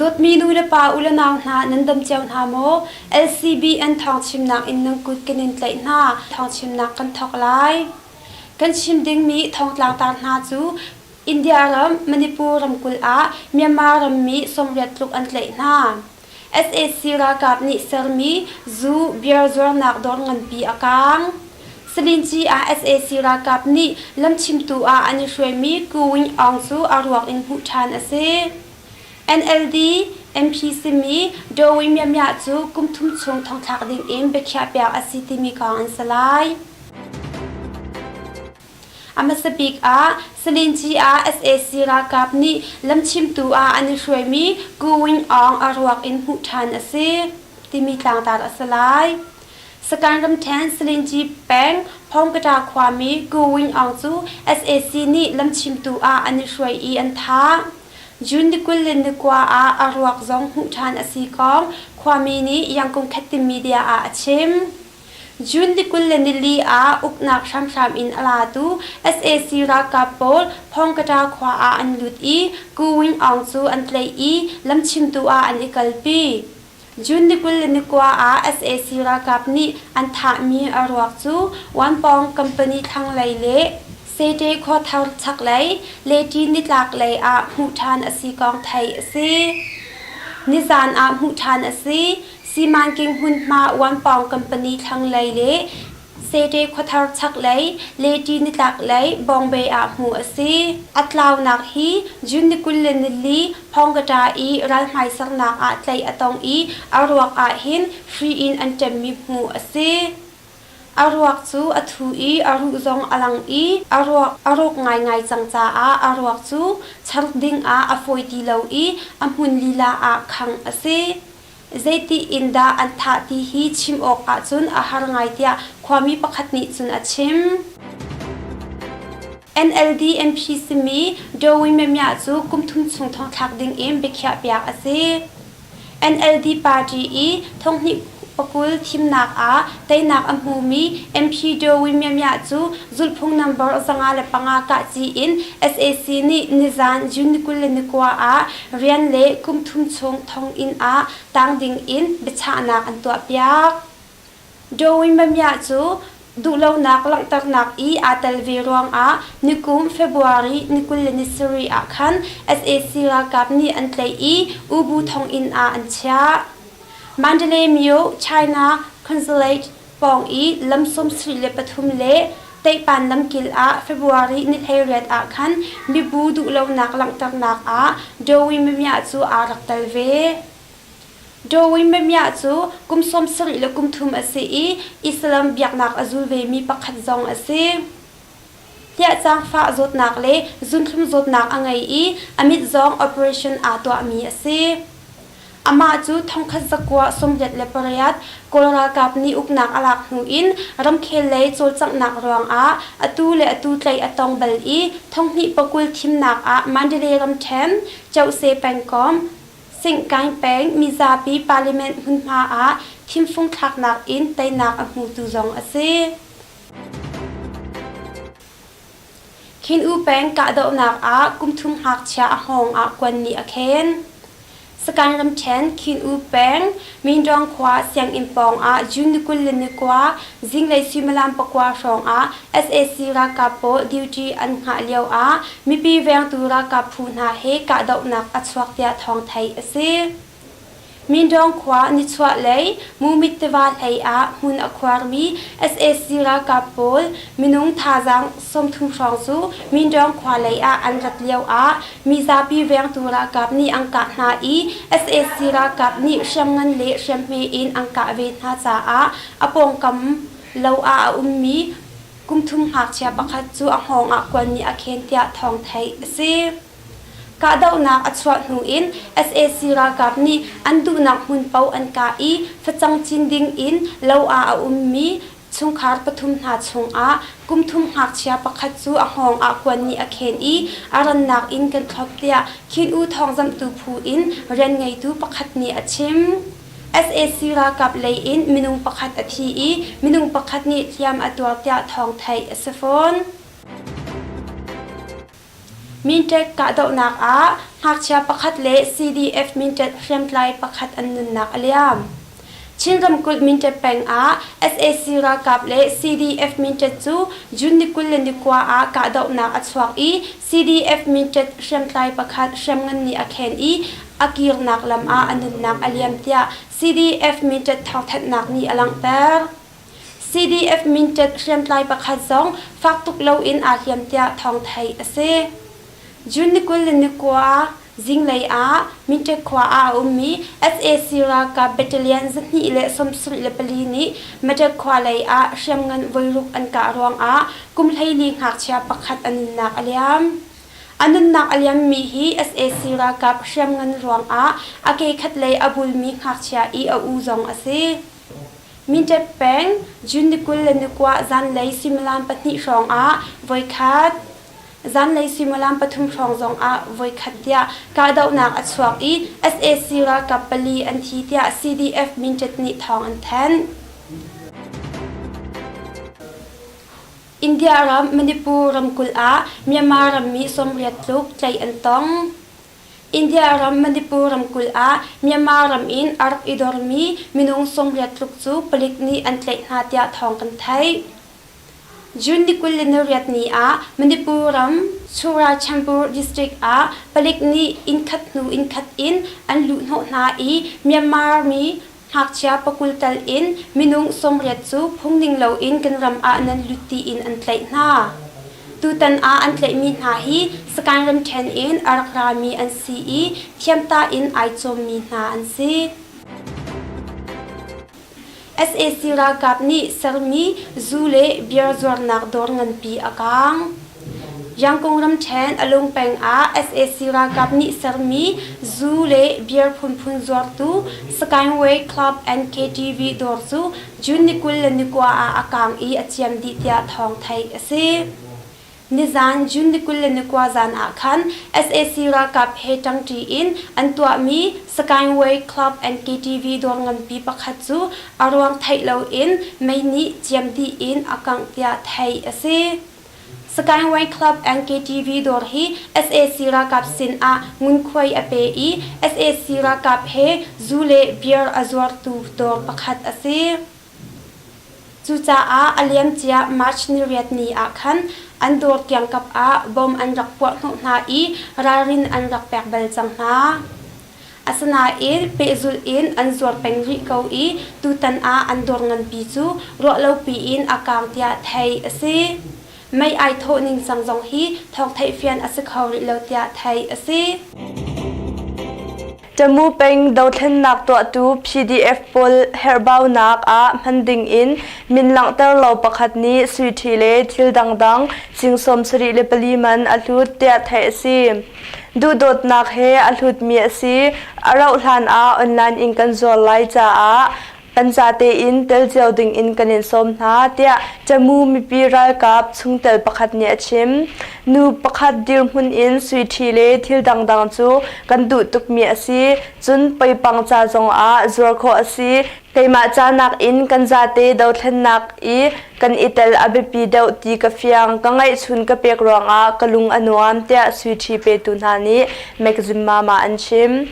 Dawtmi nulepa u le nau hna nan dam cio hna maw? LCB an thawngchimnak in nan kut kan in tlaih hna. Thawngchimnak kan thawk lai. Kan chim dingmi thongtlang tar hna cu India ram, Manipur ramkulh ah Myanmar rammi sawmriat tluk an tlaih hna. sac ralkap nih sermi zu beer zuarnak dawr nganpi a kaang. Salinci ah sac ralkap nih lamchimtu ah an i hruaimi Ku Wing Aung cu a ruak in hmuh ṭhan a si. NLD MP simi Do Win Mya Mya cu kum thum chung thongthlak ding in biakhiahpiak a si timi kong an si lai. A hmasa bik ah Salinci ah sac ralkap nih lamchimtu ah an i hruaimi Ku Wing Aung a ruak in hmuh ṭhan a si timi tlangtar a si lai. Sakaan ramṭhen Salinci peng Phongkata khuami Ku Wing Aung cu sac nih lamchimtu ah an i hruai i an thah. June ni kul le ni kua ah a ruak zong hmuh ṭhan a si kong khuami nih Yangkung Khat ti media ah a chim. June ni kul le nili ah uknak hramhram in a latu sac ralkap pawl Phongkata khua ah an lut i Ku Wing Aung cu an tlaih i lamchimtu ah an i kalpi. June ni kul le ni kua ah sac ralkap nih an thahmi a ruak cu Wanpawng company thlanglei le Sete khuathar chaklei le Ṭin nitlaklei ah hmuh ṭhan a si kong theih a si. Nizan ah hmuh ṭhan a si. Simanking hmunhma Uan Pawng Company thlanglei le Sete khuathar chaklei Leti nitlaklei Bawngbe ah hmuh a si. A tlaunak hi June ni kul le nili Phawngkata i ral hmaisarnak ah tlaih a tong i a ruak ahhin free in an ṭemmi hmuh a si. A ruak cu a thu i a ruh zong a lang i a ruak a rawk ngaingai cang caah a ruak cu char ding ah a fawi ti lo i a hmun lila ah khangh a si. Zeiti in dah an thah ti hi chim awk ahcun a har ngai tiah khuami pakhat nih cun a chim. NLD MP simi Doe Myamya cu kum thum chung thongthlak ding in biakhiahpiak a si. NLD party i thonghnih pakul thimnak ah teinak a hmumi MP Doe Myamya cu zulhphung nambar zanga le panga kah ci in sac nih nizan June ni kul le ni kua ah rian le kum thum chung thonginn ah tang dingin biachahnak an tuahpiak. Dawin Mamia cu duhlonak langhternak i aa tel ve ruangah nikum February ni kul le nisarih ah khan sac ralkap nih an tlaih i Ubu thonginn ah an chiah. Mandalay Myo, China consulate Pawng i lam sawmsarih le pathum le teihpan lamkil ah February ni hleiriat ah khan mibu duh lonak langhternak ah Dowi Mamiah cu aa rak tel ve. Dowi Mamiah cu kum sawmsarih le kum thum a si i Islam biaknak a zul vemi pakhat zong a si. hliah cangfah zawtnak le zunthlum zawtnak a ngei i a mit zong operation aa tuahmi a si. Amah cu thongkhat zakua sawmriat le pariat Kawl ralkap nih uknak a lak hnu in ramkhel lei cawlcanghnak ruangah atu le atu tlaih a tong bal i thonghnih pakul thimnak ah Mandalay ramṭhen, Ceuse pengkom, Singkaing peng mizapi parliament hmunhma ah thimfung thlaknak in teinak a hmutu zong a si. Khin-u peng kahdohnak ah kum thum ngakchia a hngawng ah kuan nih a khen. Sakaing ramṭhen Khin-u peng Minṭawng khua sianginn pawng ah June ni kul le ni kua zinglei suimilam pakua hrawng ah sac ralkap pawl duty an hngah lio ah mipi vengtu ralkap phu hna he kahdohnak a chuak tiah thawng theih a si. Mindawng khua nichuahlei Mumit tiva hlei ah hmun a khuarmi sac ralkap pawl minung thazaang sawmthum hrawng cu Mindawng khua lei ah an rat lioah mizapi vengtu ralkap nih an kah hna i sac ralkap nih hriamngan le hriamhme in an kah ve hna caah a pawngkam lo ah a ummi kum thum ngakchia pakhat cu a hngawng ah kuan nih a khen tiah thawng theih a si. Kahdohnak a chuah hnu in sac ralkap nih an duhnak hmun paoh an kah i facang cin ding in lo ah a ummi chungkhar pathum hna chungah kum thum ngakchia pakhat cu a hngawng ah kuan nih a khen i a rannak in kan thlop tiah Khin U thawngzamhtu phu in rian ngeitu pakhat nih a chim. Sac ralkap lei in minung pakhat a thi i minung pakhat nih hliam a tuar tiah thawng theih a si fawn. Minṭek kahdohnak ah ngakchia pakhat le CDF minṭet hriamtlai pakhat an nunnak a liam. Chin ramkulh minṭet peng ah sac ralkap le CDF minṭet cu June ni kul le ni kua ah kahdohnak a chuak i CDF minṭet hriamtlai pakhat hriamngan nih a khen i a kirnak lam ah a nunnak a liam tiah CDF minṭet thawngthanhnak nih a langhter. CDF minṭet hriamtlai pakhat zong fak tuk loin aa hliam tiah thawng theih a si. June ni kul le ni kua zinglei ah Minṭet khua ah a ummi sac ralkap battalion zahnih le sawmsarih le pali nih Minṭet khua lei ah hriamngan voiruk an kah ruangah kum hleili ngakchia pakhat a nunnak a liam. A nunnak a liammi hi sac ralkap hriamngan ruangah a ke khat lei a bulmi ngakchia i a u zong a si. Minṭep peng June ni kul le ni kua zanlei suimilam pahnih hrawngah voikhat zanlei suimilam pathum hrawng zongah voikhat tiah kahdohnak a chuak i sac ralkap pali an thi tiah CDF Minṭet nih thawng an thanh. India ram Manipur ramkulh ah Myanmar rammi sawmriat tluk tlaih an tong. India ram Manipur ramkulh ah Myanmar ram in a rak i dormi minung sawmriat tluk cu palik nih an tlaih hna tiah thawng kan theih. June ni kul le nariat ni ah Manipur ram Surachambur district ah palik nih innkhat hnu innkhat in an luh hnawh hna i Myanmar mi Hngakchia pakul tal in minung sawmriat cu phungning loin kan ram ah nan lut tiin an tlaih hna. Tutan ah an tlaihmi hna hi Sakaing ramṭhen in a rak rami an si i thiamtah in ai cawmmi hna an si. sac ralkap nih sermi zu le beer zuarnak dawr nganpi a kaang. Yangkung ramṭhen Alung peng ah sac ralkap nih sermi zu le beer phunphun zuartu Skyway Club NKTV dawr cu June ni kul le ni kua ah a kaang i a ciam dih tiah thawng theih a si. Nizan June ni kul le ni kua zan ah khan sac ralkap he ṭangṭi in an tuahmi Skyway Club NKTV dawr nganpi pakhat cu a ruang theih loin mei nih ciam dih in a kangh tiah theih a si. Skywarn Club LKTV dawr hi sac ralkap sin ah ngunkhuai a pe i sac ralkap he zu le beer a zuartu dawr pakhat a si. Cucaah a liamcia March niriatni ah khan an dawr tiangkap ah bom an rak puah hnawh hna i ralrin an rak pek bal cang hna. Asinain pehzulh in an zuar peng rih ko i tutan ah an dawr nganpi cu ruahlopi in a kang tiah theih a si. Mei ai thawh ningcang zong hi thawk theihfian a si kho rih lo tiah theih a si. Tamu peng dothlennak tuahtu PDF pawl herhbaunak ah hman dingin min langhter lo pakhat nih sui ṭhi le thil dangdang sing sawm sarih le pali man a hlut tiah theih a si. Duhdawtnak he a hlutmi a si. A rauhhlan ah online in kan zuar lai caah kan zate in tel cio dingin kan in sawm hna, tiah Camu mipi ralkap chungtel pakhat nih a chim. Nu pakhat dirhmun in suiṭhi le thil dangdang cu kan duh tukmi a si. Cun peipang ca zongah zuar khawh a si. Keimah ca nakin kan zate dothlennak i kan i tel a biapi deuh ti ka fiang. Ka ngeihchun ka pek ruangah ka lung a nuam tiah Sui Ṭhi petu hna nih mekzim mama an chim.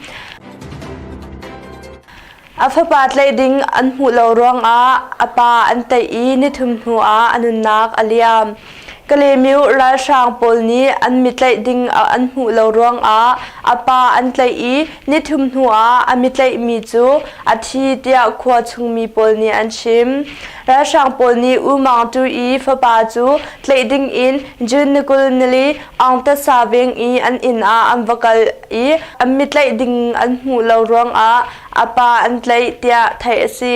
A fapa tlaih ding an hmuh lo ruangah a pa an tlaih i nithum hnuah a nunnak a liam. Kalemyu ralhrang pawl nih an mitlaih ding an hmuh lo ruangah a pa an tlaih i nithum hnuah a mitlaihmi cu a thi tiah khua chungmi pawl nih an chim. Ralhrang pawl nih U Mang Tu i fapa cu tlaih dingin June ni kul nili Aungtasa veng i an inn ah an va kal i an mitlaih ding an hmuh lo ruangah a pa an tlaih tiah theih a si.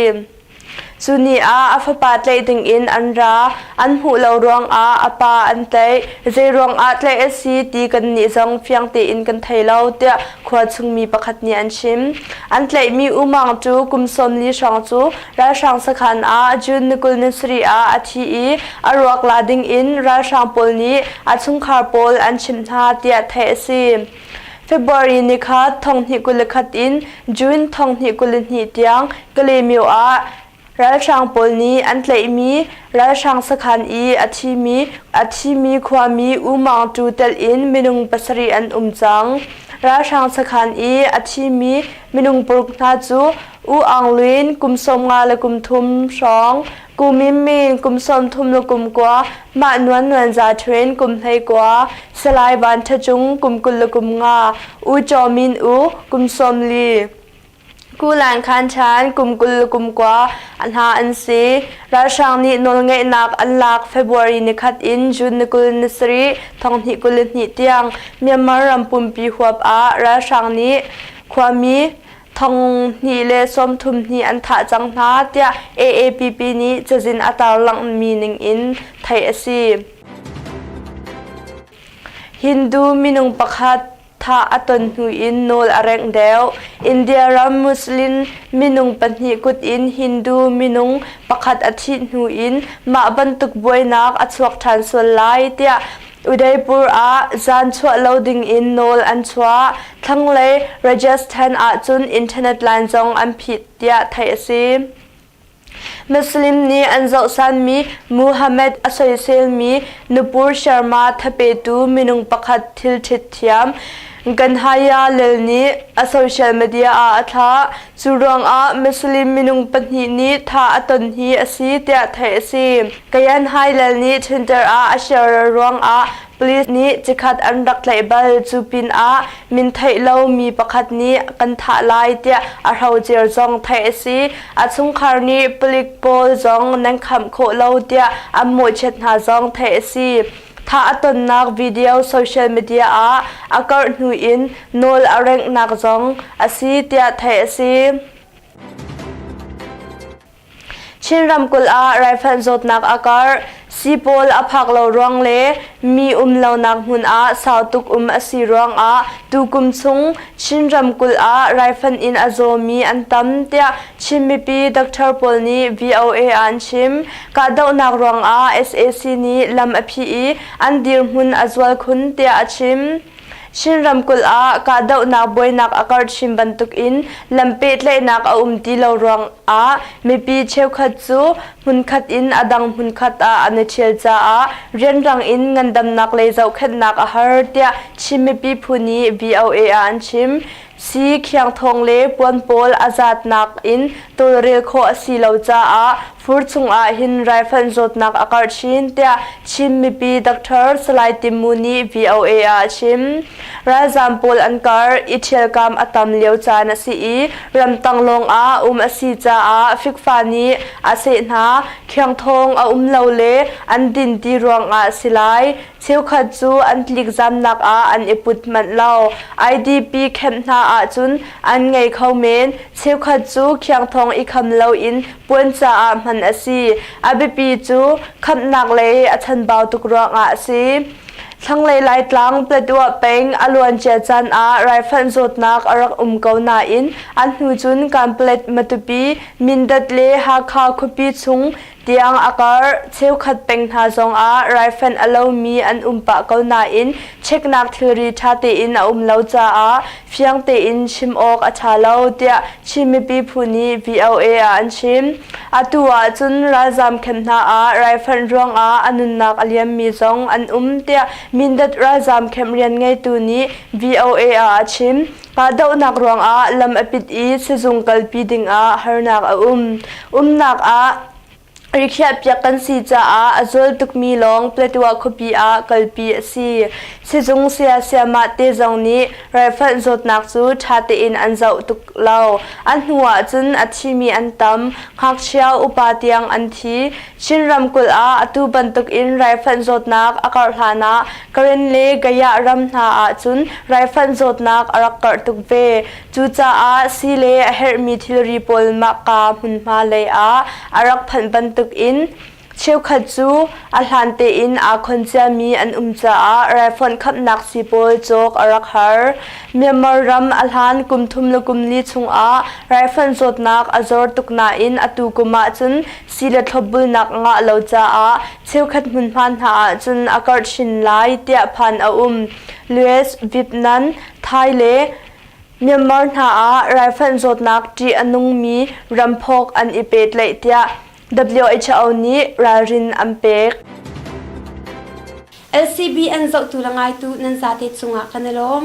Cu ni ah a fapa tlaih dingin an ra, an hmuh lo ruangah a pa an tlaih. Zeiruangah tlaih a si ti kannih zong fiang tein kan thei lo tiah khua chungmi pakhat nih an chim. An tlaihmi umang cu kum sawmli hrawng cu ralhrang sakhan ah June ni kul ni sarih ah a thi i a ruak la dingin ralhrang pawl nih a chungkhar pawl an chimh hna tiah theih a si. February ni kha thonghnih kul le khat in June thonghnih kul le hnih tiang Kalemyo ah ralhrang pawl nih an tlaihmi ralhrang sakhan i a thimi a thimi khuami U Maung Ṭu telh in minung pasarih an um cang. Ralhrang sakhan i a thimi minung paruk hna cu U Aung Lwin kum sawmnga le kum thum hrawng Kum in min, kum sawmthum le kum kua, mah nuannuan za ṭhen kum hlei kua, Salai Vanṭha Cung kum kul le kum nga, U Chaw Min U kum sawmli, Ku Lan Khan Chan kum kul le kum kua a hna an si. Ralhrang nih nawlngeihnak an lak February ni khat in June ni kul ni sarih thonghnih kul le hnih tiang Myanmar ram pumpi huap ah ralhrang nih khuami Thong hnih le sawmthum hnih an thah cang hna tiah AAPP nih cazin a tarlanghmi ningin theih a si. Hindu minung pakhat thah a ton hnu in nawl a rengh deuh. India ram Muslim minung pahnih kut in Hindu minung pakhat a thih hnu in mah bantuk buainak a chuak ṭhan sual lai tiah Udaipur ah zan chuah lo dingin nawl an chuah, thlanglei Rajasthan ahcun internet line zong an phit tiah theih a si. Muslim nih an zohsanmi Muhammad a soiselmi Nupur Sharma thapetu minung pakhat thilṭhit thiam Ganhaya Lal nih a social media ah a thlah. Cu ruangah Muslim minung pahnih nih thah a ton hi a si tiah theih a si. Kayan Highlail nih Chinter ah a siaral ruangah police nih cikhat an rak tlaih bal. Cu pinah min theih lo mi pakhat nih kan thah lai tiah a hrocer zong theih a si. A chungkhar nih palik pawl zong nan khamh khawh lo tiah an mawhchiat hna zong theih a si. Thah a tonnak video social media ah a karh hnu in nawl a renghnak zong a si tiah theih a si. Chin ramkulh ah raifanh zawtnak a karh, sipawl a phak lo ruang le mi um lonak hmun ah sau tuk um a si ruangah tukum chung Chin ramkulh ah raifanh in a zawmi an tam tiah Chin mipi doctor pawl nih VOA ah an chim. Kahdohnak ruangah sac nih lam a phih i an dirhmun a zual khun tiah a chim. Chin ramkulh ah kahdohnak buainak a karh chin bantukin lam pehtlaihnak a um ti lo ruangah mipi cheukhat cu hmunkhat in a dang hmunkhat ah an i ṭhial caah rianrang in ngandamnak lei zohkhenhnak a har tiah Chin mipi phu nih VOA ah an chim. Sii khiangthawng le puan pawl a zatnak in tawlrel khawh a si lo caah fur chungah hin raifanh zawtnak a karh chin tiah Chin mipi Doctor Salai Tim Mu nih VOA ah a chim. Ralzaam pawl an kar i ṭhialkam a tam lio caan a si i ramtang lawng ah um a si caah fikfa nih a seh hna, khiangthawng a um lo le an din ti ruangah a si lai. Cheukhat cu an tlikzamnak ah an i put manh lo. IDP camp hna ahcun an ngei kho men. Cheukhat cu khiangthawng i kham loin puan caah hman a si. A biapi cu khamhnak lei a chanbau tuk ruangah a si. Thlanglei Laitlang Paduah peng a luancia caan ah raifanh zawtnak a rak um ko nain a hnu cun Kanpalet, Matupi, Mindat le Hakha khuapi chung Tiang a karh, cheukhat peng hna zongah raifanh a lomi an um pah ko nain cheknak thilri ṭha tein a um lo caah fiang tein chim awk a ṭha lo, tiah Chin mipi phu nih VOA ah an chim. Atu ahcun ralzaam camp hna ah raifanh ruangah a nunnak a liammi zong an um, tiah Mindat ralzaam camp rian ngeitu nih VOA ah a chim. Kahdohnak ruangah lam a pit i sizung kalpi dingah harnak a um. Umnak ah rikhiahpiak kan si caah a zul tukmi lawng Plateau khuapi ah kalpi a si. Sizung saya siamah te zong nih raifanh zawtnak cu ṭha tein an zoh tuk lo. A hnu ahcun a thimi an tam. Ngakchia upa tiang an thi. Chin ramkulh ah atu bantukin raifanh zawtnak a karh hlanah Karen le Gayah ram hna ahcun raifanh zawtnak a rak karh tuk ve. Cucaah sii le a herhmi thilri pawl mahka hmunhma lei ah a rak phanh bantukin cheukhat cu a hlan tein aa khon ciami an um caah raifanh khamhnak sii pawl cawk a rak har. Myanmar ram a hlan kum thum le kum li chungah raifanh zawtnak a zor tuk nain atu kum ahcun Sii le thlopbulnak a ngah lo caah cheukhat hmunhma hna ahcun a karh chin lai tiah phan a um. US, Vietnam, Thai le Myanmar hna ah raifanh zawtnak ṭih a nungmi ram phawk an i pehtlaih tiah WHO nih ralrin an pek. LCB an zohtu le ngaitu nan zate cungah kan i lawm.